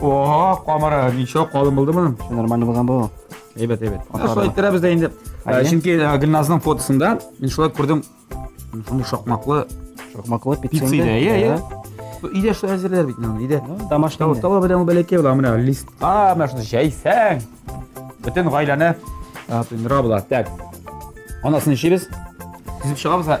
О, камара, ничего, калын булды моның. Нормально булган бу. Әйбәт, әйбәт. Шулай иттерәбез дә инде. Ә, Чөнки ә, Гөлназның фотосында мин шулай күрдем. Шундый шакмаклы Шокмаклы пицца. пицца иде. Иә, иә. Өйдә шулай әзерләр бит моны, өйдә. Тамаш Тау, тау белән ул бәләкәй була, менә листка, менә шуны җәйсәң. Бөтен гаиләне ә, туйдыра була. Так. Анасын ишибез. Тизеп чыгабыз. ә.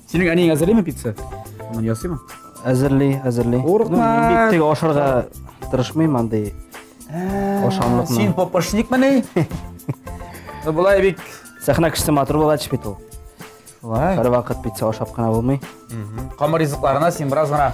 Синең әниең әзерлиме пицца? Аны ясыймы? Әзерли, әзерли. Курыкма. Бик тик ашарга тырышмыйм андый. Ашамлыкны. Син попошник мени? Булай бик сәхнә кешесе матур була бит ул. Вай. Һәр вакыт пицца ашап кына булмый. Камыр ризыкларына син бераз гына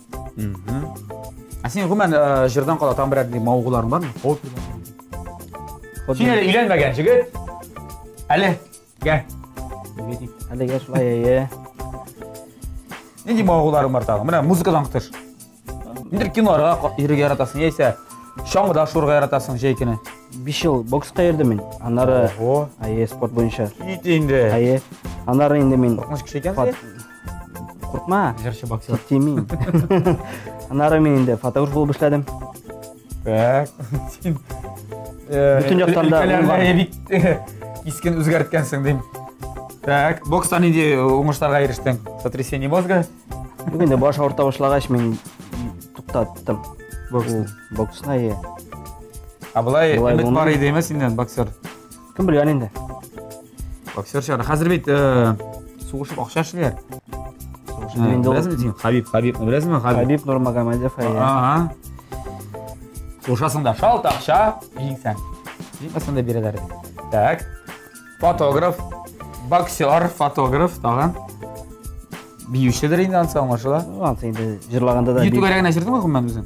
Ә син гомумән э, җырдан кала тагын берәр мавыгуларың бармы? Син әле өйләнмәгән җегет. Әле гә. Әлегә шулай әйе. Нинди мавыгуларың бар тагын? Менә музыкадан тыш. Нидер киноларга ка- йөрергә яратасың, яисә чаңгыда шуырга яратасың җәй көне. 5 ел бокска йөрдем мин. Аннары Ого. әйе спорт буенча. Кит инде. Әйе. Аннары инде мин Куркыныч кеше икәнсең. Куркма. Җырчы боксер. Тими. Аннары мин инде фотограф булып эшләдем. Так. Син э, Бүтән яктан да өлкәләрне бик э, кискен үзгәрткәнсең дим. Так, бокста нинди уңышларга ирештең? Сотрясение мозга? Юк инде баш авырта башлагач мин туктаттым. Бокс. Боксны. А былай өмет бар иде, әмма синнән боксер. Кем белгән инде? Боксер чыгар. Хәзер бит э, сугышып акча эшлиләр. Сугышып э, инде. Беләсеңме син? Хабиб, Хабиб, беләсеңме Хабиб? Хабиб Нурмагомедов. Ага. Сугышасың да, шалт акча, җиңсәң. Җиңмәсәң дә бирәләр. Так. Фотограф, боксер, фотограф тагын. Биючедер инде ансы аңлашыла. Ансы инде җырлаганда да. Ютуб генә җырдыңмы гомумән үзең?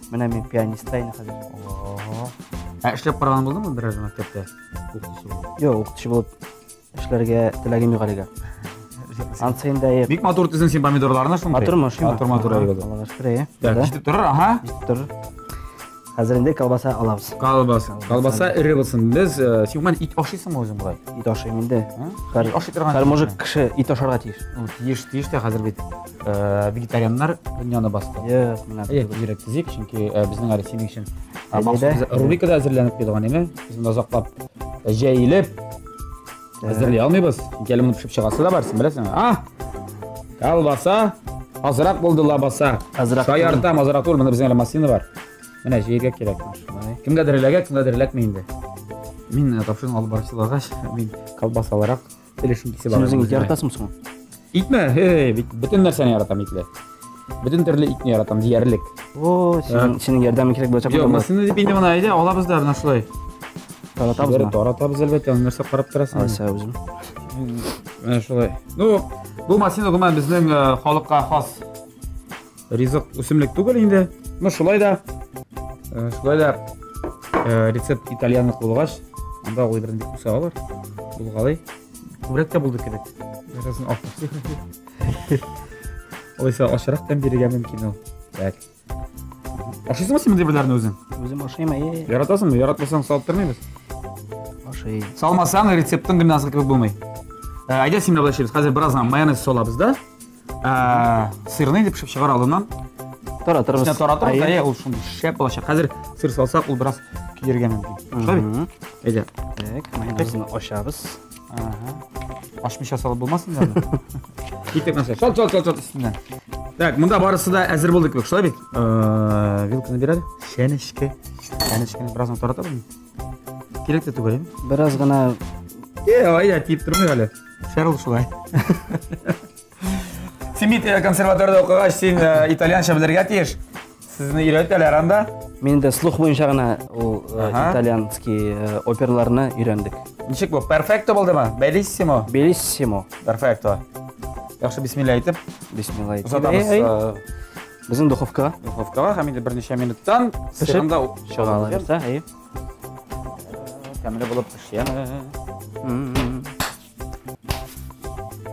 Менә мин пианистка инде хәзер. Ого. Ә эшләп караган булдыңмы берәр мәктәптә? Укытучы булып. Юк, укытучы булып эшләргә теләгем юк әлегә. Ансы инде әйе. Бик матур төзен син помидорларны шундый. Матур ма, шума? Матур, матур, әйе. Аллага шөкер, әйе. Так, Да, җитеп торыр, аха. җитеп торыр. Хәзер инде колбаса алабыз. Колбаса. Колбаса эре булсын. Без э, син гомумән ит ашыйсыңмы үзең болай? Ит ашыйм инде. Һәр- Ит ашый торган. Һәр мужик кеше ит ашарга тиеш. Ну, Тиеш, тиеш тә хәзер бит. Э, вегетарианнар дөньяны басты yes, менә бигрәк төзик чөнки э, безнең әле синең өчен э, махсус рубрикада әзерләнеп куелган име без монда озаклап җәелеп әзерли алмыйбыз чөнки әле моны пешеп чыгасы да бар син беләсең а колбаса азрак булды лабаса азрак шаяртам азрак түгел монда безнең әле маслина бар менә җыярга кирәк кемгәдер эләгә кемгәдер эләкми инде мин тапшыруны алып барып чыгагач мин колбасалырак Телешим кисеп Син үзең ит яратасың соң? Итме? Эй, бөтен нәрсәне яратам итле. Бөтен төрле итне яратам диярлек. О, синең синең ярдәмең кирәк булачак. Юк, мәсәлән, дип инде моны әйдә, алабыз да менә шулай. Таратабыз да. Таратабыз әлбәттә, нәрсә карап торасың? Ася үзем. Менә шулай. Ну, бу машина гомумән безнең халыкка хас ризык үсемлек түгел инде. Ну шулай да э, шулай да э, рецепт итальянлык булгач, анда ул беренче бик үсә алар. Булгалый. Күбрәк тә булды кебек. Беразын алып. Алайса ашырак тәм бирергә мөмкин ул. Так. Ашыйсыңмы син мондый берләрне үзең? Үзем ашыйм, әйе. Яратасыңмы? Яратмасаң салып тормыйбыз. Ашыйм. Салмасаң рецептың гимназия кебек булмый. Ә, әйдә син менә булай эшлибез. Хәзер бераздан майонез салабыз да. ә, сырный дип пешеп чыгар алдыннан таратырбыз Сенә таратырбыз әйе ул шундый шәп булачак хәзер сыр салсак ул бераз көйәргә мөмкин шулай бит әйдә так майонезны ачабыз ашмыйча салып булмас инде аны китек нәрсә шалт шалт шалт шалт өстеннән так монда барысы да әзер булды кебек шулай бит вилканы бир әле чәнечке чәнечкене бераздан таратабызмы Кирәк тә түгел. Бераз гына Е, ая тиеп тормый әле. Шәрл шулай. Син бит э, консерваториядә укыгач, син э, итальянча белергә тиеш. Сезне өйрәтәләр анда. Мин дә слух буенча гына ул э, Ага. итальянский э, оперларны өйрәндек. Ничек бу? Перфекто булдымы? Белиссимо. Белиссимо. Перфекто. Яхшы бисмилла әйтеп. Бисмилла әйтеп. Озатабыз. Эй, эй. э, Безнең духовкага. Духовкага һәм инде берничә минуттан сырында чыгала бирсә, әйе. Тәмле булып пешә.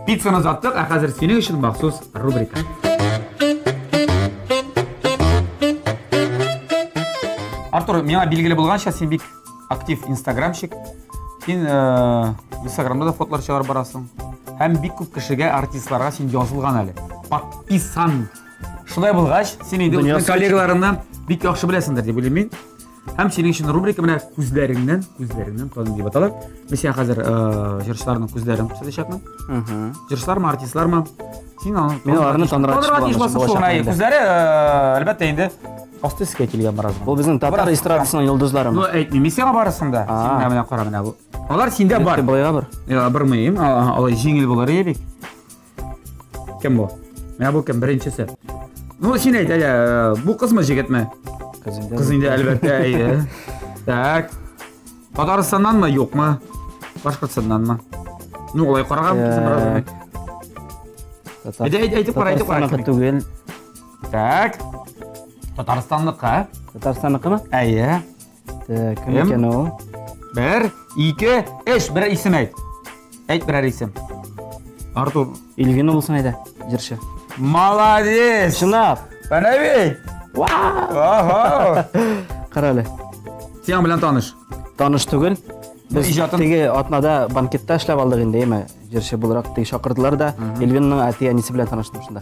Пиццаны заттык, ә хәзер синең өчен махсус рубрика. Артур, миңа билгеле булганча, син бик Актив инстаграмщик. Син э, инстаграмда да фотолар чыгарып барасың. Һәм бик күп кешегә, артистларга син язылган әле. Подписан. Шулай булгач, син инде үзеңнең коллегаларыңны бик яхшы беләсеңдер дип уйлыйм мин. Һәм синең өчен рубрика менә күзләреңнән, күзләреңнән тану дип атала. Мин сиңа хәзер э, җырчыларның күзләрен күрсәтәчәкмен. Җырчылармы, артистлармы? Син аны Мин аларны таныра Танырга тиеш буласың басып шуның, әйе, күзләре, э, әлбәттә инде. Асты өскә килгән бераз. Ул безнең татар эстрадасының йолдызлары. Ну, әйтмим, мин сиңа барырсың да. А. Син менә менә кара менә бу. Алар синдә бар. Былайга бер. Я, бер мыйым, а, а, алай җиңел булыр иде бик. Кем бу? Менә бу кем беренчесе? Ну, син әйт, әле, э, бу кызмы, җегетме? Кыз инде. Кыз инде әлбәттә, әйе. Так. Татарстаннан ма, юк ма? Башкортстаннан ма? Ну, олай карага мөмкинсең бераз гына. Әйдә, әйдә, әйтеп кара, әйтеп кара. Татарстанныкы түгел. Так. Татарстанныкы. Татарстанныкымы? Әйе. Так, кем икән ул? Бер, ике, өч, бер исем әйт. Әйт берәр исем. Артур. Ильвина булсын әйдә, җырчы. Молодец! Чынлап. Менә бит. Вау! Кара әле. Сиңа белән таныш. Таныш түгел. Без иҗатын... теге атнада банкетта эшләп алдык инде, яме, җырчы буларак теге чакырдылар да, Эльвинның әти әнисе белән таныштым шунда.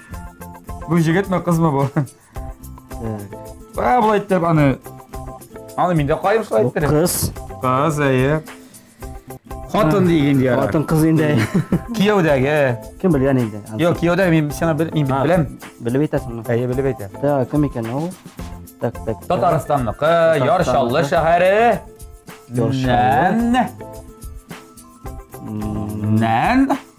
Бу җегетме, кызмы бу? Ә, болай итеп аны. Аны мин дә кайым шулай иттереп. Кыз. Кыз, әйе. Хатын диген дияр. Хатын кыз инде. Кияүдәге. Кем белгән инде? Юк, кияүдә мин сиңа бел, мин беләм. Белеп әйтәсеңме? Әйе, белеп әйтә. Та, кем икән ул? Так, так. Татарстанныкы Яр Чаллы шәһәре. Яр Чаллы. Нән.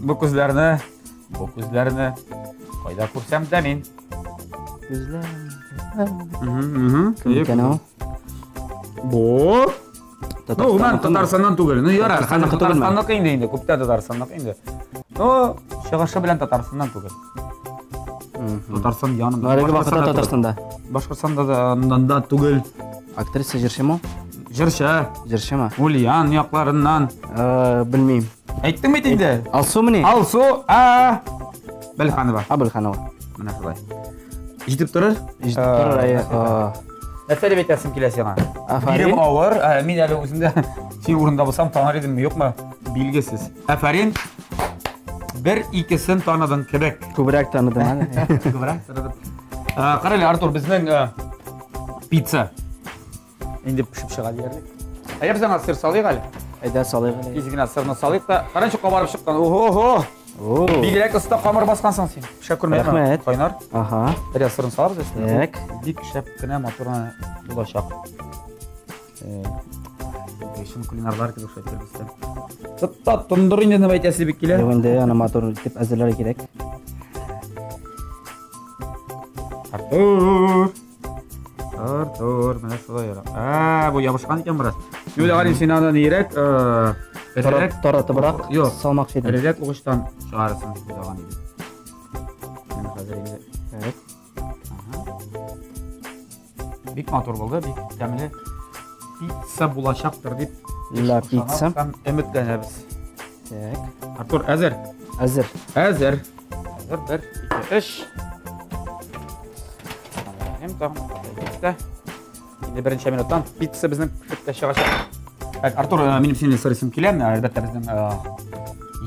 Бу күзләрне, бу күзләрне кайда күрсәм дә мин. Күзләр. Кем икән ул? Бу Ну, мен Татарстаннан түгел. Ну, ярар, хәзер Татарстанныкы инде инде, күптә Татарстанныкы инде. Ну, чыгышы белән Татарстаннан түгел. Татарстан янында. Әлеге вакытта Татарстанда. Башкортстанда да янында түгел. Актриса җырчымы? Җырчы. Җырчымы? Ульян якларыннан. Э, белмим. Әйттең бит инде. Э, Алсу мени? Алсу, а Белханова. А Белханова. Менә шулай. Җитеп торыр? Җитеп э, торыр, әйе. Нәрсә дип әйтәсең килә сиңа? Бирем авыр, мин әле үземдә син урында булсам танар идемме, юкмы? Билгесез. Афарин. Бер икесен таныдың кебек. Күбрәк таныдым әле. Күбрәк таныдым. Карале, Артур, безнең пицца. Инде пешеп чыга диярлек. Ә я безнең сыр салыйк әле. Әйдә салыйк әле. Изгенә сырны салыйк та. Каранчы кабарып чыккан. Ого-го. Бигрәк оста камыр баскансың син. Пешә күрмәдем. Рәхмәт. Кайнар. Ага. Бер сырын салабыз өстенә. Бик шәп кенә матурына булачак. Чын кулинарлар кебек шулай кирбестә. Тотта тондыр инде нәм әйтәсе бик килә. Юк инде аны матур итеп әзерләргә кирәк. Артур. Артур, менә шулай яра. А, бу ябышкан икән бераз. Юля Галин син аны нирәк, э, эрерәк, таратыбрак, юк, салмакчы идем. Эрерәк угычтан чыгарасың дип уйлаган идем. Менә хәзер инде. Так. Бик матур булды, бик тәмле пицца булачактыр дип Ла пицца. Һәм өметләнәбез. Так. Артур, әзер? Әзер. Әзер. Әзер, бер, ике, өч. Әм, тагын, Инде беренче минуттан пицца безнең пицца чыгачак. Так, Артур, э, минем синең сорыйсым килә, әлбәттә безнең э,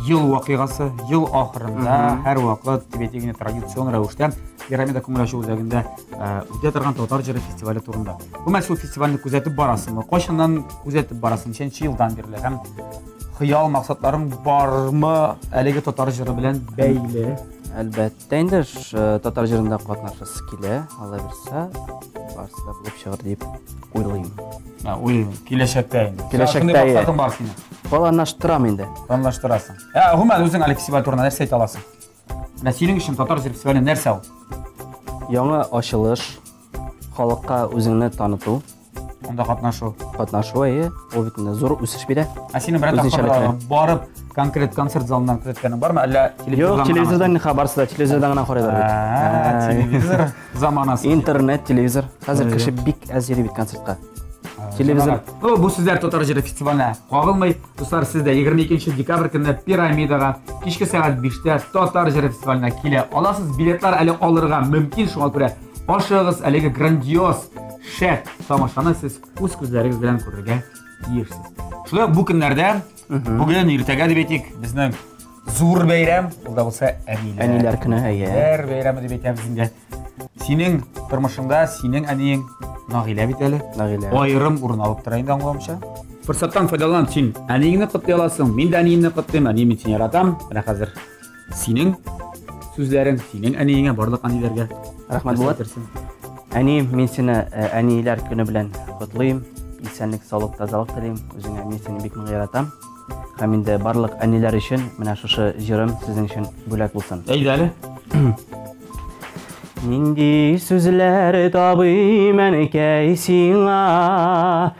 ел вакыйгасы, ел ахырында һәр вакыт тибетигне традицион рәвештә пирамида күңел ачу үзәгендә э, үтә торган татар җыры фестивале турында. Гомумән шул фестивальне күзәтеп барасыңмы? Кайчаннан күзәтеп барасың? Ничәнче елдан бирле? Һәм хыял максатларың бармы әлеге татар җыры белән бәйле? Әлбәттә. Дә инде э, татар җырында катнашасы килә, алла бирса, барысы да булып чыгыр дип уйлыйм. Ә, уйлыйм, киләчәктә инде. Киләчәктә. Шундый максатым бар синең. Планлаштырам инде. Планлаштырасың. Ә, гомумән үзең әле фестиваль турында нәрсә әйтә аласың? Менә синең өчен татар җыр фестивале нәрсә ул? Яңа ачылыш, халыкка үзеңне таныту. анда катнашу катнашу әйе ул бит инде зур үсеш бирә ә сине берәр тапкыр барып конкрет концерт залыннан күзәткәнең бармы әллә юк телевизордан ха барысы да телевизордан гына карыйлар бит телевизор заманасы интернет телевизор хәзер кеше бик әз йөри бит концертка телевизор ну бу сүзләр татар җыры фестиваленә кагылмый дуслар сез дә егерме икенче декабрь көнне пирамидага кичке сәгать биштә татар җыры фестиваленә килә аласыз билетлар әле алырга мөмкин шуңа күрә Ашыгыз, әлеге грандиоз, шәп тамашаны сез үз күзләрегез белән күрергә тиешсез. Шулай бу көннәрдә, бүген иртәгә дип әйтик, безнең зур бәйрәм, ул да булса әниләр. Әниләр көне, әйе. Әниләр бәйрәме дип әйтәбез инде. Синең тормышыңда синең әниең Нагилә бит әле. Нагилә. Аерым урын алып тора инде аңламча. Форсаттан файдаланып син әниеңне котлый аласың. Мин дә әниемне котлыйм, әниемне син яратам. Менә хәзер синең сүзләрең синең әниеңә барлык әниләргә рәхмәт булат әни мин сине э, әниләр көне белән котлыйм исәнлек саулык тазалык телим үзеңә мин сине бик нык яратам һәм инде барлык әниләр өчен менә шушы җырым сезнең өчен бүләк булсын әйдә әле нинди сүзләр табыйм әнекәй сиңа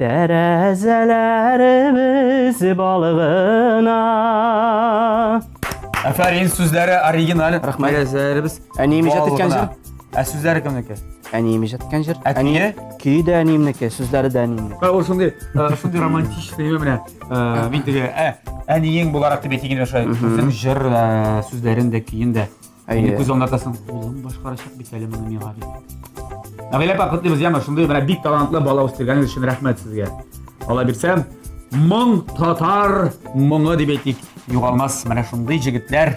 Тәрәзәләребез балыгына. Әфәрин, сүзләре оригиналь. Рәхмәт. Тәрәзәләребез. Әнием иҗат иткән җыр. Ә сүзләре кемнеке? Әнием иҗат иткән җыр. Әнием. Көе дә әниемнеке, сүзләре дә әниемнеке. Ә ул шундый, шундый романтичный нәмә менә. Мин теге әниең буларак дип әйтегез шулай. Үзем җыр сүзләрен дә, көен дә. Әйе. Күз алдында соң улым башкарачак бит әле моны миңа дип. Нәгыйлә апа котлыйбыз яңа шундый менә бик талантлы бала үстергәнегез өчен рәхмәт сезгә. Алла бирсә, моң татар моңы дип әйтик, югалмас менә шундый җегетләр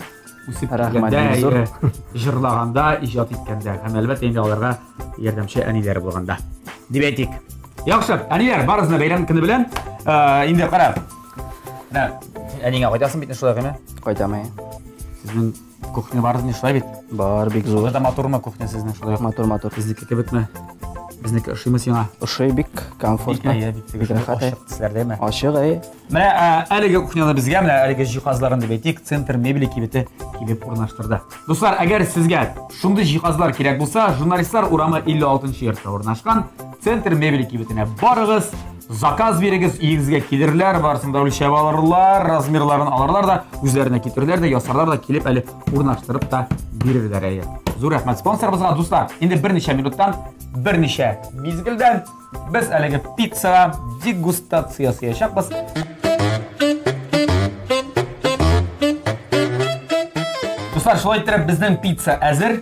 үсеп килгәндә, җырлаганда, иҗат иткәндә һәм әлбәттә инде аларга ярдәмче әниләр булганда дип әйтик. Яхшы, әниләр, барыгызны бәйрәм көне белән. Э, инде кара. Менә әнигә кайтасың бит шулай гына. Кайтам, әйе. Сезнең Кухня барыз не шулай бит? Бар, бик зур. Буда матурмы кухня сезнең шулай? Матур, матур. Безнеке кебекме? Безнеке ошыймы сиңа? Ошый бик комфортно. Бик әйе, бик теге рәхәт. Ошык тисләр дәйме? Ошык әйе. Менә әлеге кухняны безгә менә әлеге җиһазларын дип әйтик, центр мебели кибете килеп урнаштырды. Дуслар, әгәр сезгә шундый җиһазлар кирәк булса, журналистлар урамы 56 нчы йортта урнашкан центр мебели кибетенә барыгыз. Заказ бирегез, иегезгә килерләр, барысын да үлчәп алырлар, размерларын алырлар да, үзләренә китерләр дә, ясарлар да, килеп әле урнаштырып та бирерләр әйе. Зур рәхмәт спонсорыбызга, дуслар. Инде берничә минуттан, берничә мизгелдән без әлеге пиццага дегустация ясаячакбыз. Дуслар, шулай иттереп безнең пицца әзер.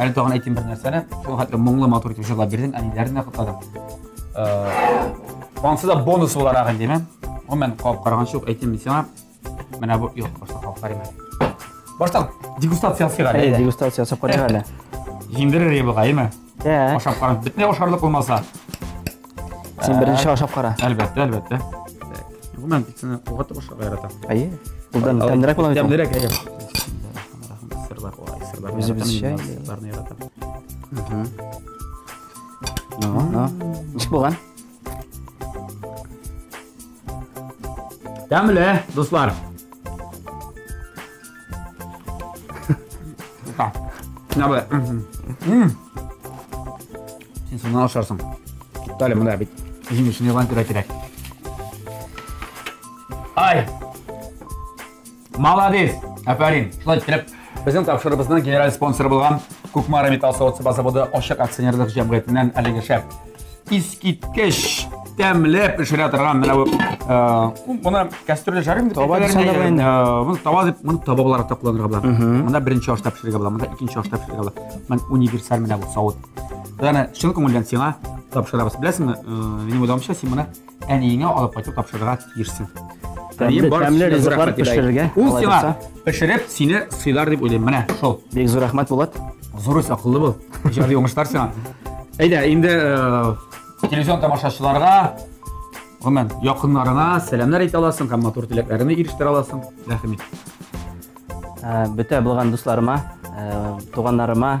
Әле тагын әйтим бер нәрсәне. Шул хәтле моңлы матур итеп җырлап бирдең, әниләрне котладың. Ансы да бонус буларак әйтеме. Гомумән, кап караган шук әйтим мин сиңа. Менә бу юк, башта кап карыйм әле. Башта дегустация ясыйк әле. Әйе, дегустация ясап карыйк әле. Җиңдерер ебыга, әйме? Ашап карап, бетмә ашарлык булмаса. Син беренче ашап кара. Әлбәттә, әлбәттә. Гомумән, пиццаны кугатта башларга яратам. Әйе. Булдан тәмлерәк була бит. Тәмлерәк, әйе. Сырлар, ой, сырлар. Үзебезчә. Сырларны яратам. Ну, ну. Ничек булган? Тәмле, дуслар. Та. Менә бу. Мм. Син соңыннан ашарсың. Туктале, монда бит җиң өчен ялан кирәк кирәк. Ай! Молодец! Афәрин! Шулай итеп, безнең тапшырыбызның генераль спонсоры булган Кукмара металл савыт заводы ачык акционерлык җәмгыятеннән әлеге шәп Искиткеч тәмле пешерә торган менә бу моны кәстрүлдә жарыйм дип таба моны таба дип моны таба буларак та кулланырга була монда беренче ашта пешерергә була монда икенче ашта пешерергә була мен универсаль менә бу савыт яны чын күңелдән сиңа тапшырабыз беләсеңме минем уйлавымча син моны Әниеңә алып кайтып тапшырырга тиешсең. Әнием Тәмле, бар тәмле кешегә ризыклар рәхмәт итә. пешерергә. Ул алай сиңа булса. пешереп, сине сыйлар дип уйлыйм. Менә шул. Бик зур рәхмәт, Булат. Зур үс, акыллы бул. Иҗади уңышлар сиңа. Әйдә, инде э, телевизион тамашачыларга, гомумән, якыннарыңа сәламнәр әйтә аласың һәм матур теләкләреңне ирештерә аласың. Рәхим ит. Ә, Бөтә булган дусларыма, ә, туганнарыма,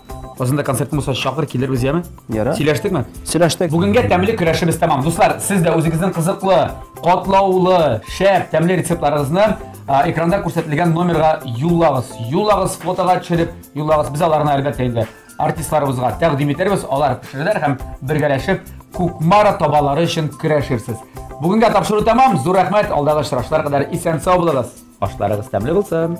Безнең дә концерт булса чакыр килербез, яме? Яра. Сөйләштекме? Сөйләштек. Бүгенгә тәмле көрәшебез тәмам. Дуслар, сез дә үзегезнең кызыклы, катлаулы, шәп, тәмле рецептларыгызны экранда күрсәтелгән номерга юллагыз. Юллагыз, фотога төшереп юллагыз. Без аларны әлбәттә инде артистларыбызга тәкъдим итәрбез. Алар пешерәләр һәм бергәләшеп Кукмара табалары өчен көрәшерсез. Бүгенгә тапшыру тәмам. Зур рәхмәт. Алдагы очрашулар кадәр исән-сау булыгыз. Ашларыгыз тәмле булсын!